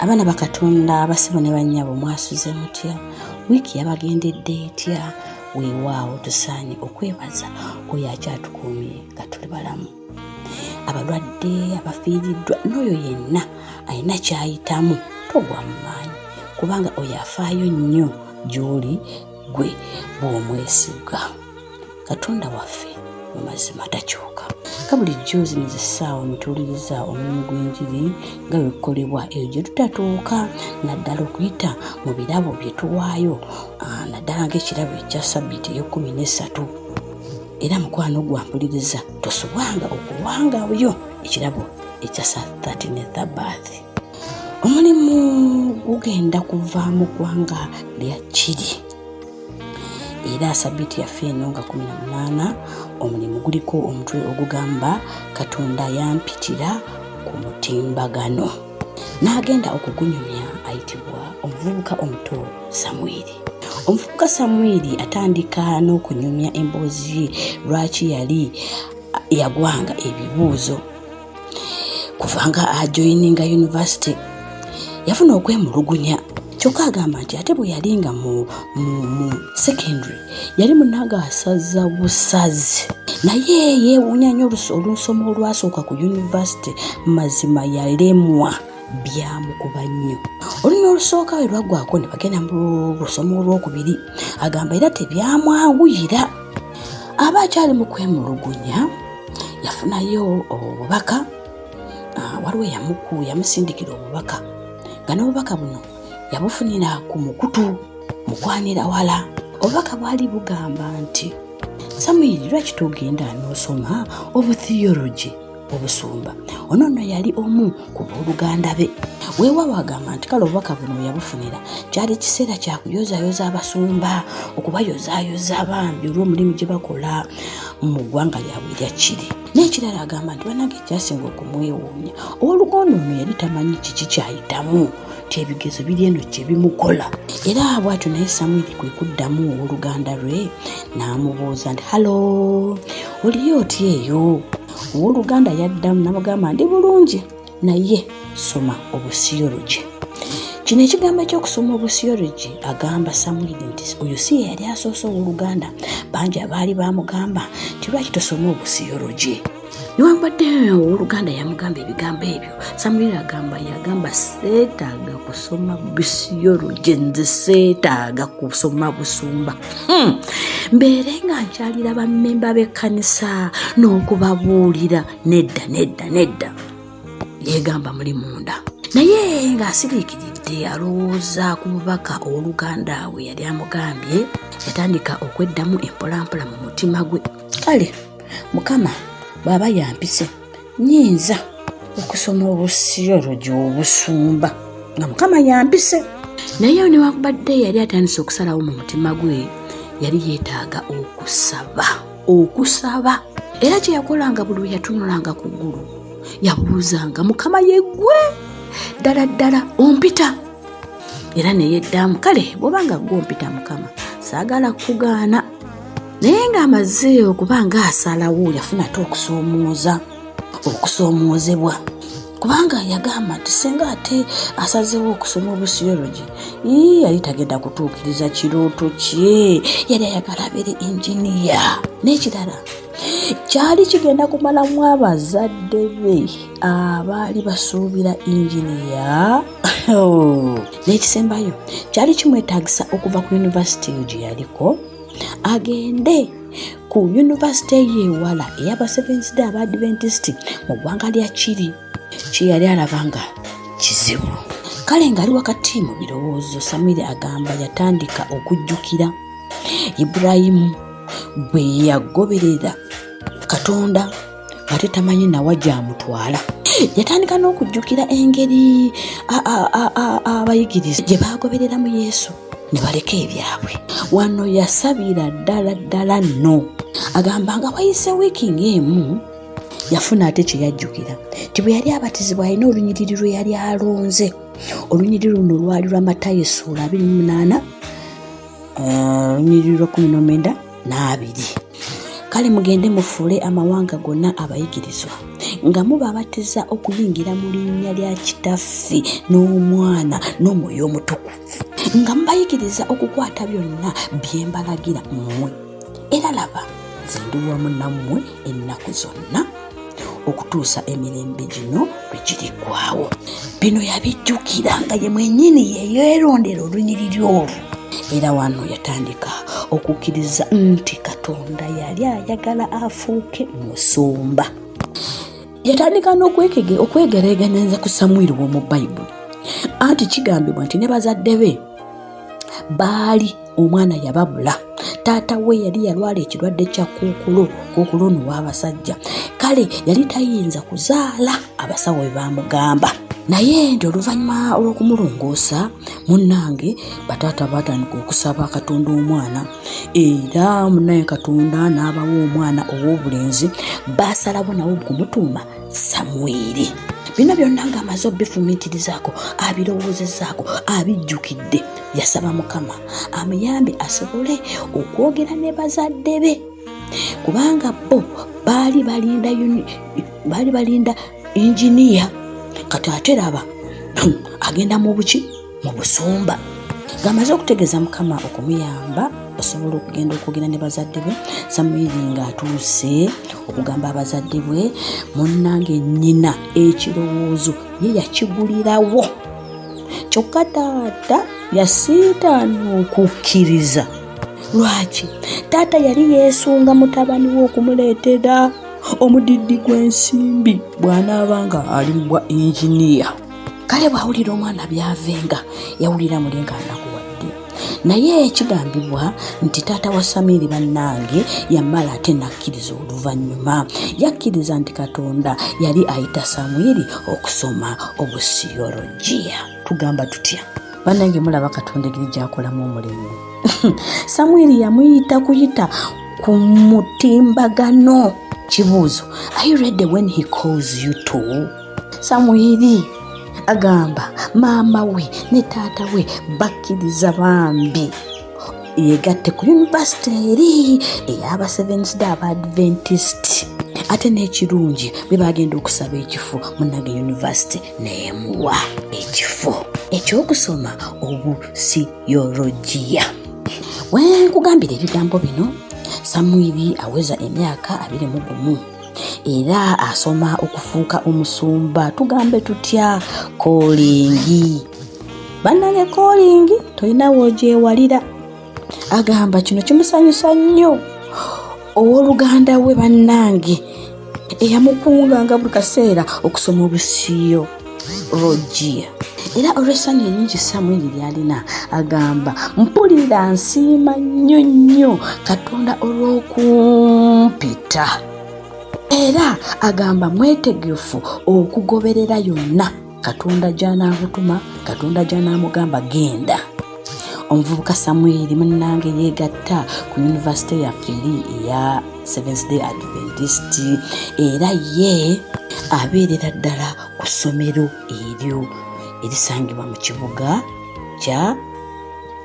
abaana bakatonda abasibo ne bannyabo mwasuze mutya wiiki yabagendedde etya weewaawo tusaanye okwebaza oyo akyatukuumye nga tuli balamu abalwadde abafiiriddwa n'oyo yenna alina kyayitamu togwa mu maanyi kubanga oyo afaayo nnyo gy'oli gwe bw'omwesiga katonda waffe mu mazima takyuka ka bulijjo zino zisaawa mutuuliriza omulimu gw'enjiri nga bekukolebwa eyo gye tutatuuka naddala okuyita mu birabo bye tuwaayo ah, naddala ng'ekirabo ekya sabbiiti ey'ekkumi n'essatu era mukwano gwampuliriza tosubwanga okuwangayo ekirabo ekya sathatine thabathi omulimu gugenda kuva mu ggwanga lya kiri era sabiiti yaffe eno nga 18 omulimu guliko omutwe ogugamba katonda yampitira ku mutimbagano n'agenda okugunyumya ayitibwa omuvubuka omuto samwiri omuvubuka samwiri atandika n'okunyumya emboozi ye lwaki yali yagwanga ebibuuzo kuvanga ajoyininga yunivasite yafuna okwemulugunya kyokka agamba nti ate bwe yali nga mu secondary yali munaga asaza busazi naye yeewunya nyo olusoma olwasooka ku yunivasite mazima yalemwa byamukuba nnyo olunya olusooka we lwaggwako ne bagenda mu lusoma olwokubiri agamba era tebyamwanguyira aba akyali mu kwemulugunya yafunayo obubaka ah, waliwo yamuku yamusindikira obubaka nga n'obubaka buno yabufunira ku mukutu mukwanira wala obubaka bwali bugamba nti samuyiri lwaki togenda n'osoma obuthiyologi obusumba ono nno yali omu ku booluganda be weewaawo agamba nti kale obubaka buno yabufunira kyali kiseera kya kuyozayoza abasumba okubayozayoza bambi olw'omulimu gye bakola mu ggwanga lyabwe erya kiri n'ekirala agamba nti banange ekyasinga okumwewuunya ow'oluganda ono yali tamanyi kiki kyayitamu nti ebigezo biri eno kye bimukola era bwatyo naye samwiri kwe kuddamu ow'oluganda lwe n'amubuuza nti halo oliyo otya eyo ow'oluganda yaddamu namugamba ndi bulungi naye soma obusiyologi kino ekigambo ekyokusoma obusiyologi agamba samwiri nti oyo si ye yali asoose ow'oluganda bangi abaali bamugamba nti lwaki tosoma obusiyologi newankubadde ow'oluganda yamugamba ebigambo ebyo samulira agamba yagamba seetaaga kusoma bisiyoloje nze seetaaga kusoma busumba hmm. mbeere nga nkyalira bammemba b'ekkanisa n'okubabuulira nedda nedda nedda yeegamba muli munda naye ng'asiriikiridde alowooza ku bubaka ow'oluganda we yali amugambye yatandika okweddamu empolampola mu mutima gwe kale mukama bw'aba yampise nyinza okusoma obusiyologi obusumba nga mukama yampise naye newankubadde yali atandise okusalawo mu mutima gwe yali yeetaaga okusaba okusaba era kye yakolanga buli we yatunulanga ku ggulu yabuuzanga mukama yeggwe ddala ddala ompita era neyeddamu kale bwobanga gwompita mukama saagala kugaana naye ng'amaze okuba ng'asalawo yafuna ate okusoomooza okusoomoozebwa kubanga yagamba nti singa ate asazeewo okusoma obusiyologi ii yali tagenda kutuukiriza kirooto kye yali ayagala abeere enjiniya n'ekirala kyali kigenda kumalamu abazadde be abaali basuubira enjiniya oh. n'ekisembayo kyali kimwetaagisa okuva ku yunivasite eyo gye yaliko agende ku yunivasite yeewala eyabasevensid abaadventisiti mu ggwanga lya kiri kyeyali alaba nga kizibu kale ng'ali wakati mu birowoozo samiri agamba yatandika okujjukira iburayimu bwe yagoberera katonda ate tamanyi nawa gyamutwala yatandika n'okujjukira engeri abayigiriza gye baagobereramu yesu ne baleka ebyabwe wano yasabira ddala ddala nno agamba nga wayise wiiki ng'emu yafuna ate kye yajjukira nti bwe yali abatizibwa alina olunyiriri lwe yali alonze olunyiriri luno lwali lwa matayo essuula abiri mu munaana eh, olunyiriri lwa kumi nomenda n'abiri kale mugende mufuule amawanga gonna abayigirizwa nga mubabatiza okuyingira mu linnya lya kitaffe n'omwana n'omwoyo omutukuvu nga mubayigiriza okukwata byonna bye mbalagira mmwe era laba nze ndi wamu nammwe ennaku zonna okutuusa emirembe gino lwe giriggwawo bino yabijjukira nga ye mwenyini yeyeerondera olunyiriri olwo era wano yatandika okukkiriza nti katonda yali ayagala afuuke musumba yatandika n'okwekege okwegereeganyanza ku samwiri w'omu bayibuli anti kigambibwa nti ne bazadde be baali omwana yababula taata we yali yalwala ekirwadde kya kuukulo kuukulo ono w'abasajja kale yali tayinza kuzaala abasawo we baamugamba naye nti oluvannyuma olw'okumulongoosa munnange bataata baatandika okusaba katonda omwana era munaye katonda n'abawa omwana ow'obulenzi baasalawo nawe okumutuuma samwiri bino byonna ng'amaze obifumiitirizaako abirowoozezaako abijjukidde yasaba mukama amuyambe asobole okwogera ne bazadde be kubanga bo baali balinda baali balinda inginiya kati ate laba agenda mu buki mu busumba ng'amaze okutegeeza mukama okumuyamba osobola okugenda okwogera ne bazadde be samuyiri ng'atuuse okugamba abazadde bwe munnange nnyina ekirowoozo ye yakigulirawo kyokka taata yasiitaana okukkiriza lwaki taata yali yeesunga mutabani we okumuleetera omudiddi gw'ensimbi bw'anaaba nga ali bwa inginiya kale bwawulira omwana byavenga yawulira muli nga anakuwadde naye ekigambibwa nti taata wa samiiri bannange yamala ate nakkiriza oluvannyuma yakkiriza nti katonda yali ayita samwiri okusoma obusiyologiya tugamba tutya bannange mulaba katonda egiri gyakolamu omulimu samwiri yamuyita kuyita ku mutimbagano kibuuzo are you ready when he calls you to samwiri agamba maama we ne taata we bakkiriza bambi yegatte ku yunivasite eri eyabaseventh day aba adventist ate n'ekirungi bwe bagenda okusaba ekifo munage yunivasite neyemuwa ekifo ekyokusoma obusiyologiya wenkugambira ebigambo bino samwiri aweza emyaka abiri mu gumu era asoma okufuuka omusumba tugambe tutya kolingi bannange kolingi tolina woogyewalira agamba kino kimusanyusa nnyo ow'oluganda we bannange eyamukunga nga buli kaseera okusoma obusiiyo rogia era olw'essanyu enyingi samwiri lyalina agamba mpulira nsiima nnyo nnyo katonda olw'okumpita era agamba mwetegefu okugoberera yonna katonda gy'anaamutuma katonda gy'anaamugamba genda omuvubuka samwiri munnange yeegatta ku yunivasite yaffe eri eya seventh day adventist era ye abeerera ddala ku ssomero eryo erisangibwa mu kibuga kya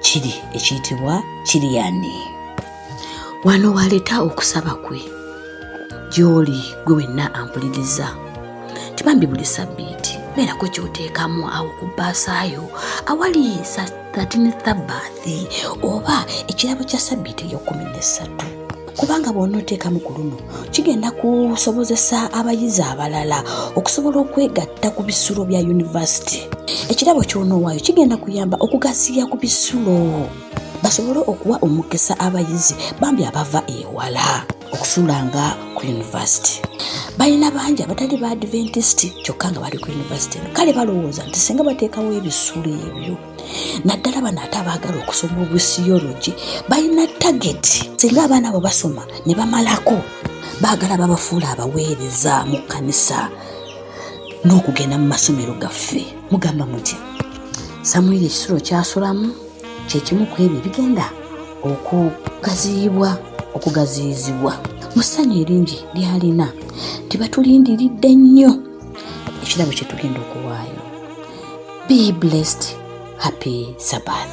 kiri ekiyitibwa kiriyani wano waleeta okusaba kwe gy'oli gwe wenna ampuliriza tibambi buli sabbiiti beerako kyoteekamu awo ku baasaayo awali satini thabaathi oba ekirabo kya sabbiiti eyokumi nessatu kubanga bwona oteekamu ku luno kigenda kusobozesa abayizi abalala okusobola okwegatta ku bisulo bya yunivasite ekirabo kyonoowaayo kigenda kuyamba okugasiya ku bisulo basobole okuwa omukisa abayizi bambi abava ewala okusuula nga ku yunivasiti balina bangi abatali ba adventist kyokka nga bali ku yunivasite eno kale balowooza nti singa bateekawo ebisulo ebyo naddala bano ate abaagala okusoma obusiyologi balina tageti singa abaana abo basoma ne bamalako baagala babafuula abaweereza mu kkanisa n'okugenda mu masomero gaffe mugamba mutya samwiri ekisulo kyasulamu kyekimu ku ebyo ebigenda okugaziyibwa okugaziyizibwa mu ssanyu eringi lyalina nti batulindiridde nnyo ekirabo kye tugenda okuwaayo be blessed happy sabbath